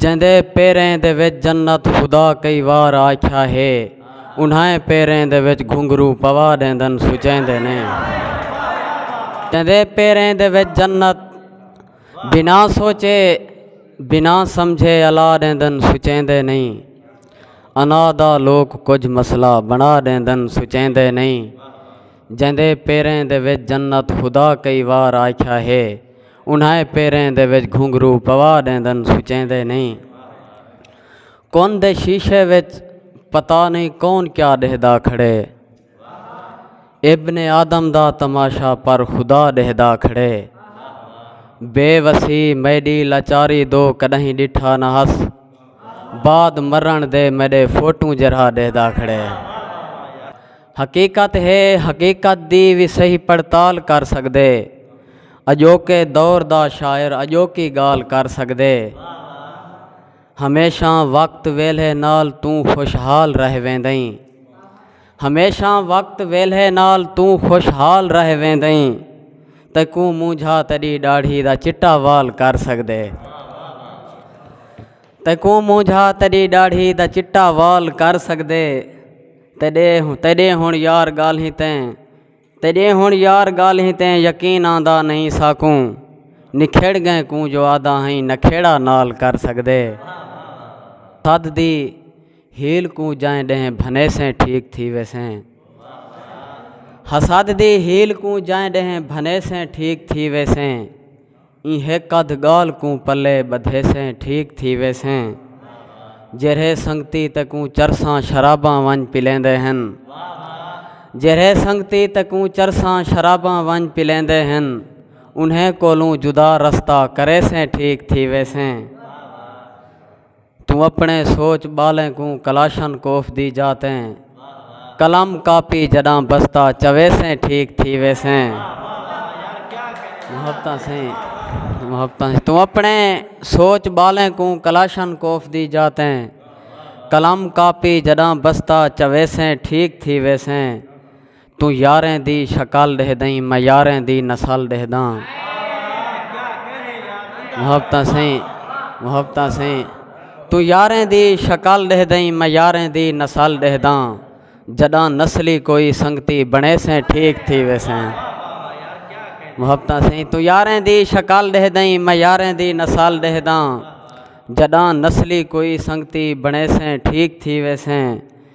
جیندے پیریں دے وچ جنت خدا کئی وار آکھیا ہے انہائیں پیریں دے وچ گھنگرو پوا ڈیندن سچیندے نے جیندے پیریں دے وچ جنت بنا سوچے بنا سمجھے الا ڈیندن سچیندے نہیں انا دا لوک کچھ مسئلہ بنا ڈیندن سچیندے نہیں جیندے پیریں دے وچ جنت خدا کئی وار آکھیا ہے انہائیں پیریں دے وچ گھنگھرو پوا ݙیندن سچیندے نئیں کن دے شیشے وچ پتا نئیں کون کیا ݙیہدا کھڑے ابن آدم دا تماشا پر خدا ݙیہدا کھڑے بے وسی میڈی لاچاری دو کݙاہیں ݙٹھا نہ ہس بعد مرݨ دے میڈے فوٹوں جرہا ݙیہدا کھڑے حقیقت ہے، حقیقت دی وی صحیح پڑتال کر سڳدے۔ اڄوکے دور دا شاعر اڄوکی ڳالھ کر سڳدے۔ ہمیشاں وقت ویلھے نال توں خوشحال رہ ویندئیں۔ ہمیشاں وقت ویلھے نال توں خوشحال رہ ویندئیں۔ تیکوں مونجھا تیݙی ݙاڑھی دا چٹا وال کر سڳدے۔ تیکوں مونجھا تیݙی ݙاڑھی دا چٹا وال کر سڳدے۔ تیݙے ہݨ یار ڳالھیں تے تیݙے ہݨ یار ڳالھیں تے یقین آندا نئیں ساکوں نکھیڑ ڳئیں کوں جو آہدا ہئیں نکھیڑا نال کر سڳدے تد دی ہیل کوں جئیں ݙینہہ بھنیسیں ٹھیک تھی ویسیں حسد دی ہیل کوں جئیں ݙینہہ بھنیسیں ٹھیک تھی ویسیں ایں ہک ادھ گالھ کوں پلے بدھیسیں ٹھیک تھی ویسیں جیرھے سنگتی تکوں چرساں شراباں ونج پلیندے ہن جیرھے سنگتی تکوں چرساں شراباں ونج پلیندے ہن انہیں کولوں جدا رستہ کریسیں ٹھیک تھی ویسیں۔ توں اپݨے سوچ ٻالیں کوں کلاشن کوف دی جاء تے قلم کاپی جݙاں بستا چویسیں ٹھیک تھی ویسیں۔ محبتاں سئیں محبتاں سئیں توں اپݨے سوچ ٻالیں کوں کلاشن کوف دی جاء تے قلم کاپی جݙاں بستا چویسیں ٹھیک تھی ویسیں۔ توں یاریں دی شکل ڈہدئیں میں یاریں دی نسل ڈہداں محبتاں سئیں محبتاں سئیں توں یاریں دی شکل ڈہدئیں میں یاریں دی نسل ڈہداں جڈاں نسلی کوئی سنگتی بنے سیں ٹھیک تھی ویسیں محبتاں سئیں توں یاریں دی شکل ڈہدئیں میں یاریں دی نسل ڈہداں جڈاں نسلی کوئی سنگتی بنے سیں ٹھیک تھی ویسیں